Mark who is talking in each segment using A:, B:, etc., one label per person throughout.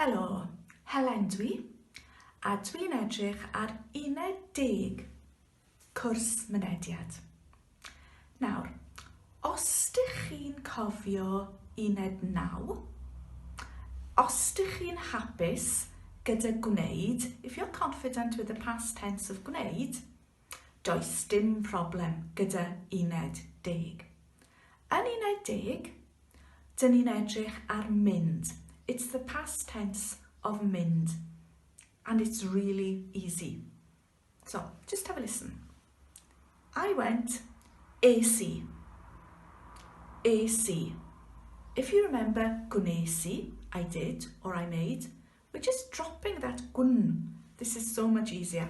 A: Helo, Helen dwi, a dwi'n edrych ar uned deg cwrs mynediad. Nawr, os dych chi'n cofio uned naw, os dych chi'n hapus gyda gwneud, if you're confident with the past tense of gwneud, Does dim problem gyda uned deg. Yn uned deg, dyn ni'n edrych ar mynd. It's the past tense of mynd. And it's really easy. So, just have a listen. I went, es i. Es i. If you remember, gwnes i, I did, or I made, we're just dropping that gwn. This is so much easier.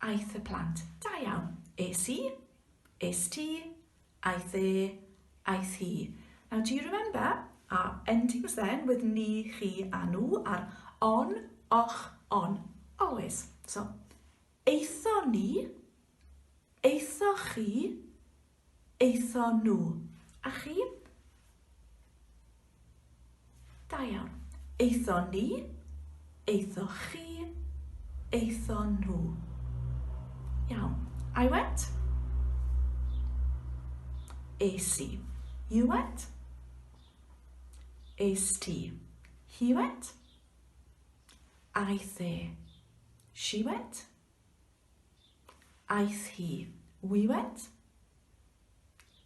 A: Aeth y plant. Da iawn. Es i. Es ti. Aeth e. Aeth hi. Now do you remember? Our endings then with ni, chi a nhw are on, och, on. Always. So, eitho ni, eitho chi, aethon nhw. A chi? Da iawn. Aethon ni, aethoch chi, aethon nhw. Iawn. I went. Es i. You went. Es ti. He went. Aeth e. She went. Aeth hi. We went.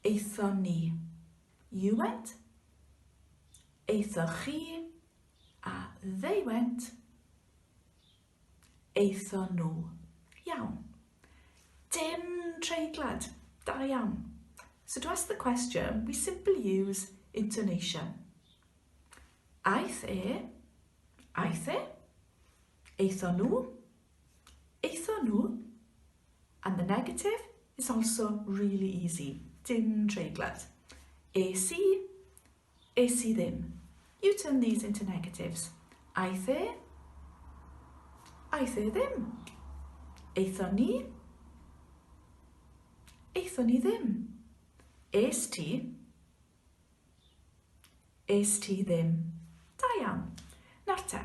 A: Aethon ni. You went. Aethoch chi. A they went. Aethon nhw. Iawn. Dim treiglad. Da iawn. So to ask the question, we simply use intonation. Aeth e. Aeth e. Aethon nhw. Aethon nhw, and the negative is also really easy, dim treiglad. Es i, es i ddim. You turn these into negatives. Aeth e, aeth e ddim. Aethon ni, aethon ni ddim. Es ti, Est ti ddim. Da iawn. Nawr te.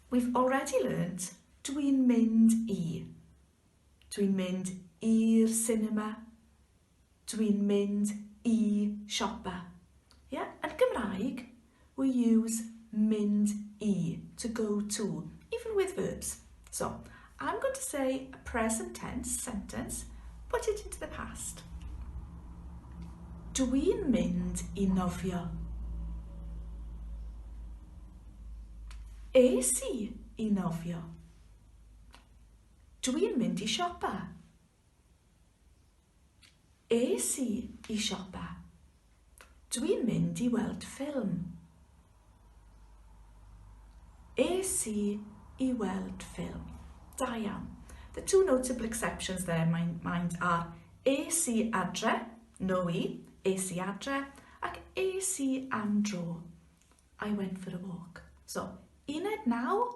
A: We've already learnt dwi'n mynd i. Dwi'n mynd i'r cinema. Dwi'n mynd i siopa. Ie? Yeah? Yn Gymraeg, We use mynd i, to go to, even with verbs. So, I'm going to say a present tense sentence, put it into the past. Dw i'n mynd i nofio. Es i i nofio. Dw i'n mynd i siopa. Es i i siopa. Dwi'n mynd i weld ffilm. Es i i weld ffilm. Da iawn. The two notable exceptions there in my mind are es i adre, no i, es i adre, ac es i am dro. I went for a walk. So, uned naw,